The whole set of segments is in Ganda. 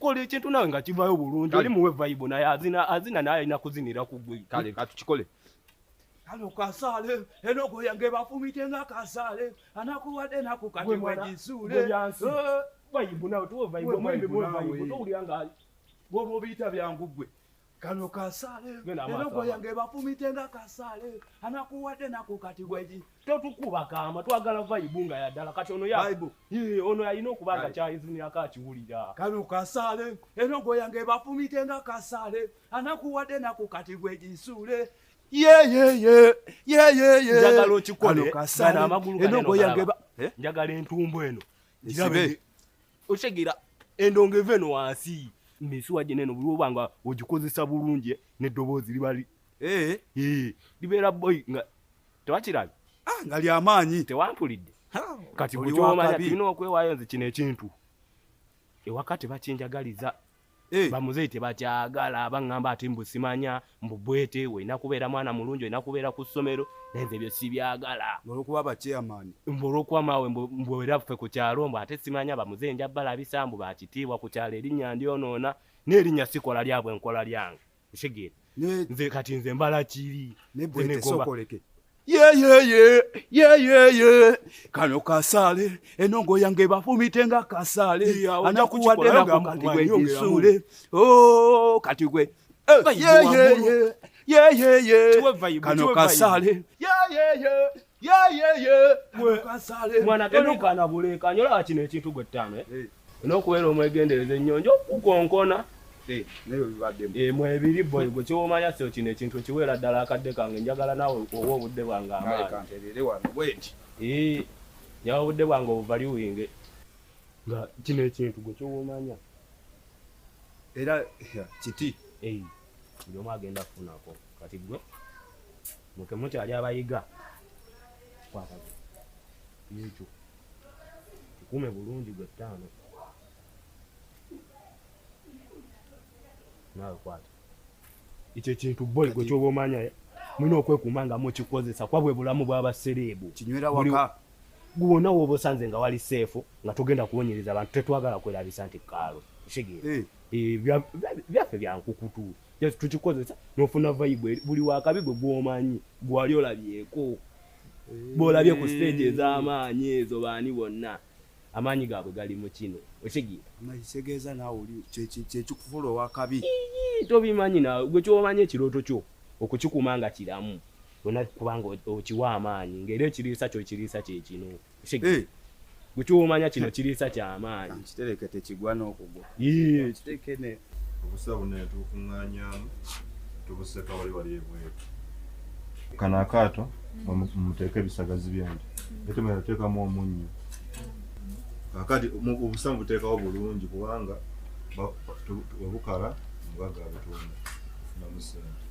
kola ekintu nawe nga kivayo bulungi oli muwe vaibu naye azina azina naye alina kuzinira kugwe kale katukikole kano kasaale enogo yange bafumite nga kasaale anakuwadde naku kati mwegisuule eh. vaibu nawe tuwe vaibu omwembi muwe vaibu towulira nga bwoba obiyita byangu gwe kano kasale erogo yange bafumite nga kasale anakuwadde nako kati gwegi totukuba kama twagala vaibu nga yaddala kati ono yaibu ono yalina okuba nga kyayizinirako akiwulira kano kasale erogo yange bafumite nga kasale anakuwadde nako kati gwegisuule njagala okikole amagulu njagala entumbu eno okitegera endongo eva eno wansi misuwa gye neno buliwo banga ogikozesa bulungi neddoboozi libali eh. eh, libeera boy nga tewakirabi ah, nga lyamaanyi tewampulidde kati bukyomanya tulina okwewayo nze kino ekintu ewaka tebakinjagaliza Hey. Eh. bamuzeyi tebakyagala baŋŋamba ati mbu simanya mbu bwete olina kubeera mwana mulungi olina kubeera ku ssomero naye nze ebyo sibyagala olwokuba bakyeyamaani mbu olwokuba maawe mbu era ffe ku kyalo mbu ate simanya bamuzeyi nja balabisa mbu bakitiibwa ku kyalo erinnya ndyonoona n'erinnya sikola lyabwe nkola lyange Otegeera? Ne nze kati nze mbala kiri. Ne bwete sokoleke. yeyeye yeyeye kano kasale enongo yange bafumite nga kasale anakuwadde nako kati gwe gisule oh, kati gwe yeyeye eh, yeyeye kano kasale yeyeye mwanaganabulekanyola kino ekintu gwe ttaano eh? eh. nokubeera omwegendereza ennyonjo okukonkona eh, mwebiri boy gwe kyoomanya sio kino ekintu ekiweera ddala akadde kange njagala nawe owa obudde bwange amaani nyawa obudde bwange obuvaliwinge nga kino ekintu gwe kyoomanya era kiti buli omu agenda kufunako kati gwe muke mukyali abayiga kwata ekyo kikume bulungi gwe ttaano naawe kwata ekyo ekintu boy gwe kyoba omanya mulina okwekuuma nga mukikozesa kuba bwe bulamu bw'abasereebu buli gwe wona woba osanze nga wali seefu nga togenda kuwonyereza abantu tetwagala kwerabisa nti kaalo kitegeera eh. Eh, byaffe byankukutu just tukikozesa nofuna vibe buli wakabi gwe gwomanyi gwali olabyeko eh. bwolabye ku stage ez'amaanyi ezo baani bonna amaanyi gaabwe gali mu kino okitegeerakitegeeza naawe oli kyekikufula owakabi tobimanyi nawe gwe kyomanyi ekirooto kyo okukikuuma nga kiramu bona kubanga okiwa amaanyi ngaera ekiriisa kyo ekiriisa kyekino eh. gwekiwomanya kino kiriisa kyamaanyi kitereke tekigwa nokugwa kitekene obusa buno netukuŋanyamu tubuseka wali wali ebweru kano akaato mumuteeka ebisagazi byange ete mwe nateekamu omunnyo kakati obusa mubuteekawo bulungi kubanga webukala mugagga abutonda namusente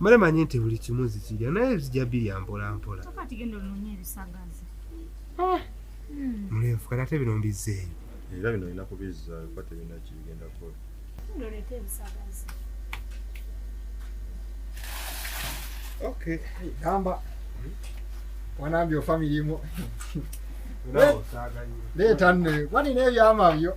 male manyi nti buli kimu zikirya naye bizija birya mpolampola ah. hmm. mulenfuka nate bino mbizzeeyo era bino olina kubizza kuba tebirina kibigenda kukola okay gamba hmm? wanambye ofamirimu leeta nne kwani nebyama byo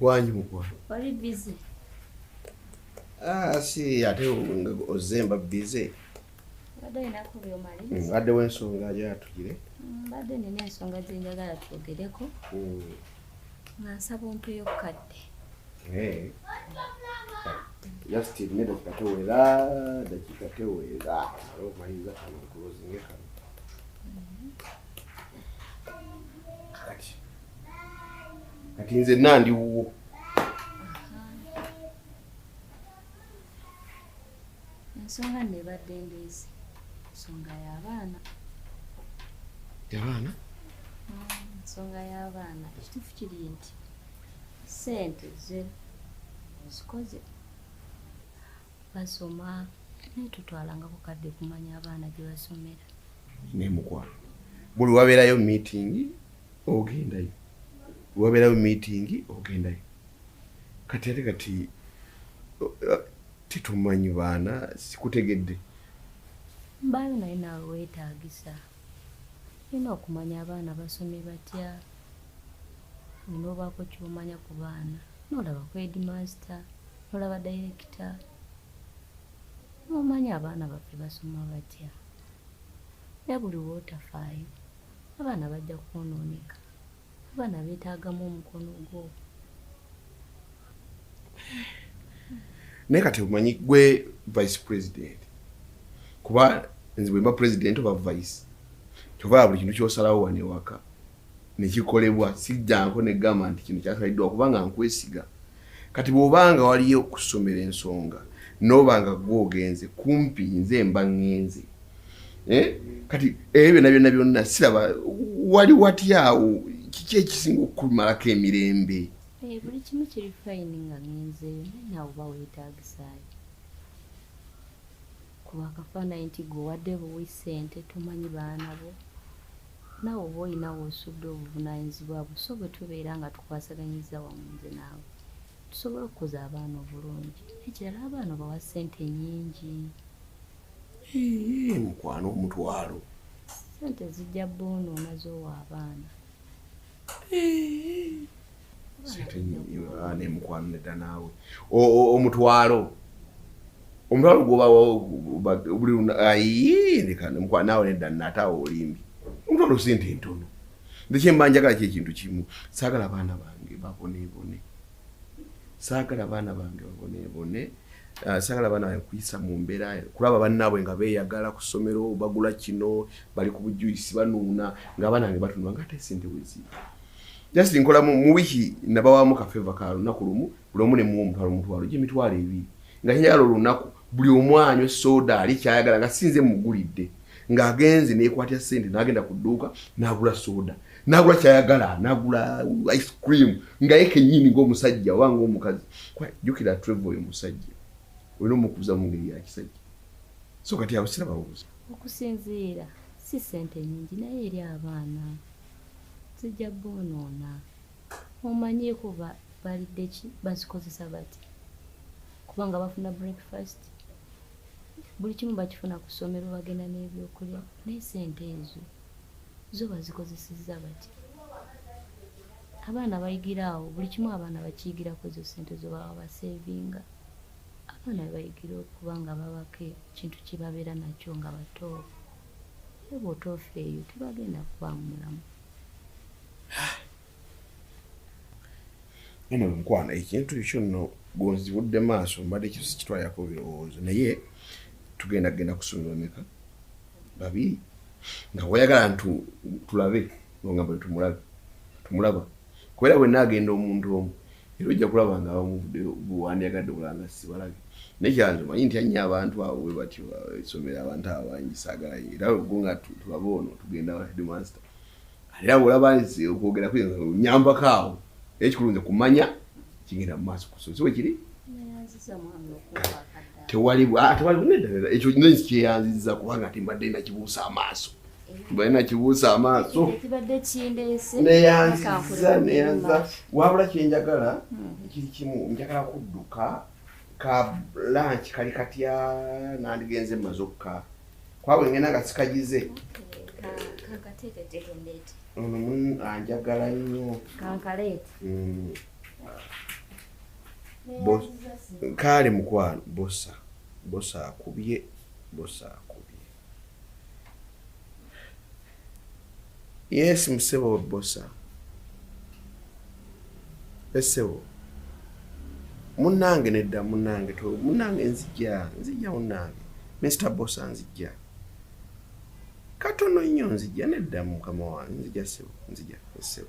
wangi mukwano oli bize ah, si ate ozemba bize mbadde wensonga yatugire mm, mbadde nina ensonga zenjagala twogereko mm. nga nsaba ompeyo kukadde Hey. Just nne dakika tewera dakika tewera omaliriza kano nkulozinge kano kati kati nze nandiwuwo ensonga nno ebadde ndeese nsonga y'abaana y'abaana mm, nsonga y'abaana ekituufu kiri nti sente ze ozikoze basoma naye tutwalanga bukadde kumanya abaana gye basomera naye mukwano buli wabeerayo miitingi ogendayo buli wabeerayo miitingi ogendayo kati ate kati tetumanyi baana sikutegedde mbaayo naye naawe weetaagisa olina okumanya abaana basomye batya olina obaako kyomanya ku baana nolaba ku edmaste nolaba dayirekita nomanya abaana baffe basoma batya era buli wootafaayo abaana bajja kwonooneka Abaana beetaagamu omukono gwo. Naye kati omanyi gwe vice president kuba nze bwemba president oba vice kyova buli kintu kyosalawo wano ewaka nekikolebwa sijjanko negamba nti kino kyasaliddwa kubanga nkwesiga kati bwobanga waliyo okusomera ensonga nobanga gwogenze kumpi nze mba ngenze eh? kati ebyo byonna byonna byonna siraba wali watyawo kiki ekisinga okukumalako emirembe eh, buli kimu kiri fayini nga ngenzeeyo naye naawe oba weetaagisaayo kuba akafaanayi nti gwe wadde buwi ssente tomanyi baana bo naawe oba olinawo osudde obuvunaanyizibwa bwo so bwe tubeera nga tukwasaganyiza wamu nze naawe tusobola okukuza abaana obulungi ekirala abaana obawa ssente nyingi mukwano omutwalo sente zijja boona omaze owa abaana ah, nemukwano nedda naawe omutwalo omutwalo gwobabulimukwano naawe nedda nataawe olimbi omutwalo sente ntono ndekye mbanjagala kyekintu kimu saagala abaana bange babonebone saagala baana bange baboneebone ah, saagala baana bange kuyisa mu mbeera kulaba bannaabwe nga beeyagala ku ssomero bagula kino bali ku bujuyisi banuuna ng'abaana bange batunula nga ate sente wezi just nkola mu wiiki nabawamu kafeva ka lunaku lumu buli omu ne muwa omutwalo omutwalo gyemitwalo ebiri nga nyagala olunaku buli omu anywe soda ali kyayagala nga sinze mugulidde ng'agenze nekwatya sente nagenda ku dduuka nagula soda nagula kyayagala nagula ice cream nga ye kenyini ng'omusajja oba ng'omukazi jukira treve oyo musajja olina omukuza mu ngeri ya kisajja so kati abo sira bawuza okusinziira si sente nyingi naye eri abaana zijja boonoona omanyiiko balidde ki bazikozesa bati kubanga bafuna breakfast buli kimu bakifuna ku ssomero bagenda n'ebyokulya naye sente ezo zo bazikozesezza bati abaana bayigira awo buli kimu abaana bakiyigirako ezo sente zo baba basevinga abaana bebayigira okuba nga babako ekintu kyebabeera nakyo nga bato ebwotoofeeyo tebagenda kubaamu mulamu nene mukwano ekintu ekyo nno gonzibudde maaso mbadde ekyo sikitwalirako birowoozo naye tugenda genda kusonyiwa meka babiri nga wayagala ntu tulabe nonga buli tumulabe tumulaba kubera wenna agenda omuntu omu era ojja kulaba nga abamu bwewandyagadde okulaba nga sibalabye naye kyanze manyi ntya nnyo abantu abo bwe batyo esomero abantu abo bangi saagala era go nga tulaba ono tugenda headmaster ate abo olaba nze okwogera kuyinza onyambako awo naye kikulu nze kumanya kigenda mu maaso kusozi we kiri tewali ah, ekyo nze kyeyanziza kubanga ate mbadde nakibuusa amaaso bwena kibuusa amaaso neyanziza neyanza wabula kyenjagala hmm. ekiri kimu njagala kudduka ka lanch kali katya nandigenze maze okka kwabwe ngenda nga sikagize ono anjagala nnyo hmm. kaale mukwano bosa bosa akubye bosa akubye Yes, msebo bosa. Esebo. Munange nedda munange to munange nzija nzija munange Mr Bosa nzija katono nnyo nzija nedda mukama wange nzija sebo nzija esebo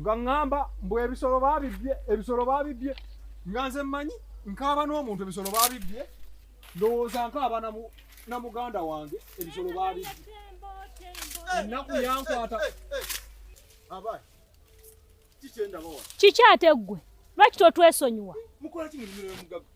nga ŋŋamba mbu ebisolo babibbye ebisolo babibbye nga nze mmanyi nkaaba n'omuntu ebisolo babibbye ndowooza nkaaba na muganda wange ebisolo babibbye ennaku yankwata kiki ate ggwe lwaki totwesonyiwa mukola ki mu limiro y'omugagga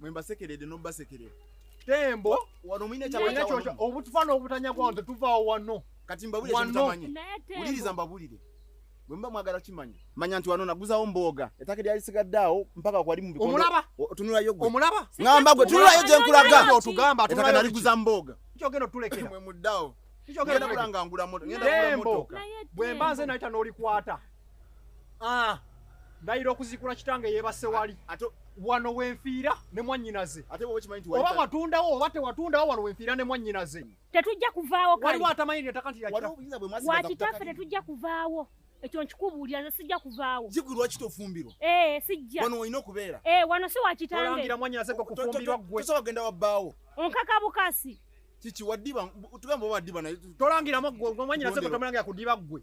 mwe mbasekerede nobasekerera tembo wano mwine kyakyo obutufa n'obutanya bwawo tetuvaawo wano kati mbabulire kyemutamanyi wuliriza mbabulire bwe muba mwagala kimanya manya nti wano naguzawo mbooga ettaka eryalisigadde awo mpaka kwali mubiomulaba otunulayo gwe omulaba ngamba gwe tunulayo gye nkulaga otugamba ettaka naliguza mbooga kyogenda otulekera mwe muddawo kyogenda kulanga ngula moto ngenda kula moto bwe mba nze nayita n'olikwata ah, ndayira okuzikula kitange yebase wali wano wenfiira ne mwanyinaze oba watundawo oba tewatundawo wano wenfiira ne mwanyinaze tetujja kuvaawo waliwo atamanyi netaka nti wakitaffe tetujja kuvaawo ekyo nkikubuulira nze sijja kuvaawo zigu lwaki tofumbirwa ee eh, sijja wano olina okubeera ee eh, wano si wakitangeolangira mwanyinaze gwe kufumbirwa gwe tosobola kugenda wabbaawo onkaka bukasi kiki wadiba tugamba oba wadiba naye tolangiramu gwe mwanyinaze gwe tomulangira kudiba gwe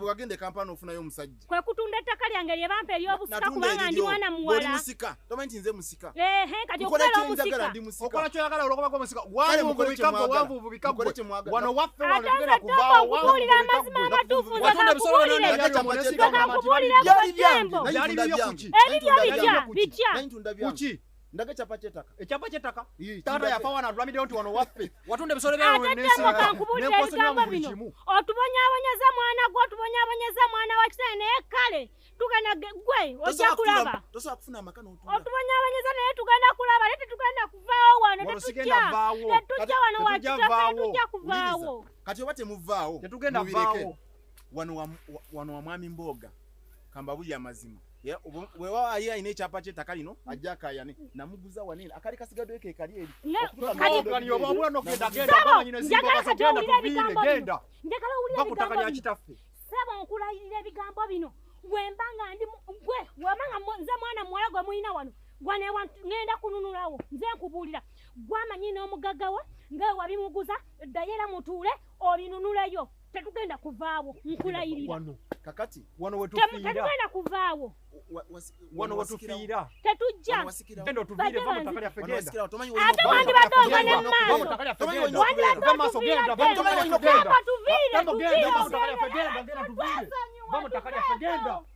wagenda ekampala nofunayo omusajja kwe kutunda ettaka lyange lye bampa eryobusika kubanga ndi mwana muwala musika tomanyi nti nze musika ehe kati okubeera omusika ndi musika okola kyoyagala olwokuba ko musika wali mukubika ko wanvu bubika ko wano waffe wano tugenda kuvaawo okubuulira amazima amatuufu nze kakubuulire nze kakubuulira ko jembo ebibyo bitya bitya kuki ndaga ekyapa kyetaka ekyapa kyetaka taata yafa wana atulamideyo nti wano waffe watunda ebisolo byatetemokankubuulira ebigambo bino otubonyabonyeza mwana gwe otubonyabonyeza mwana wa kitale naye kale tugenda gwe ojja kulaba otubonyabonyeza naye tugenda kulaba naye tetugenda kuvaawo wano tetujja tetujja wano wakitafetujja kuvaawo kati oba temuvaawo tetugenda vaawo wano wa mwami mbooga kambabulya amazima wewaali alina ekyapa kyetaka lino ajja akayane namuguza wanene akali kasigadde ke kali eri bakutaka lya kitaffe saba nkulayirira ebigambo bino wemba nga ndi gwe wemba nga nze mwana muwala gwe mulina wano gwanewa ngenda kununulawo nze nkubuulira gwamanyi n'omugagga we nga wewabimuguza ddayo era mutuule obinunuleyo tetugenda kuvaawo nkulayirira kakati wano wetufiiratetugenda kuvaawo wano wetufiira tetujja ate wandibadde ova ne maaso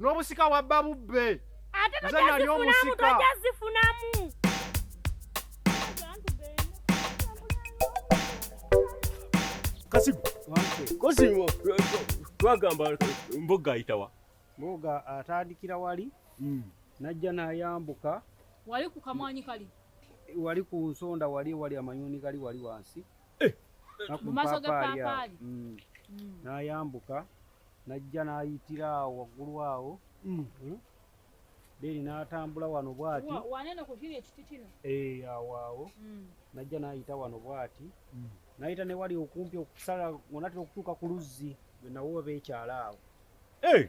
n'obusika wabba bubbe ate tojazifunamu tojazifunamu kasigu kosimu twagamba mboga ayitawa mboga atandikira wali hmm. najja nayambuka wali ku kamwanyi kali wali ku nsonda wali wali amanyuni gali wali wansi eh. mu maaso g'eppaapaali hmm. hmm. nayambuka najja n'ayitira awo waggulu awo hmm. Hmm? deni n'atambula wano bwati wanene ku kiri ekiti kino eh, awo awo hmm. najja n'ayita wano bwati n'ayita ne wali okumpi okusala onatera okutuuka ku luzzi bwe nawo oba ekyala awo eh!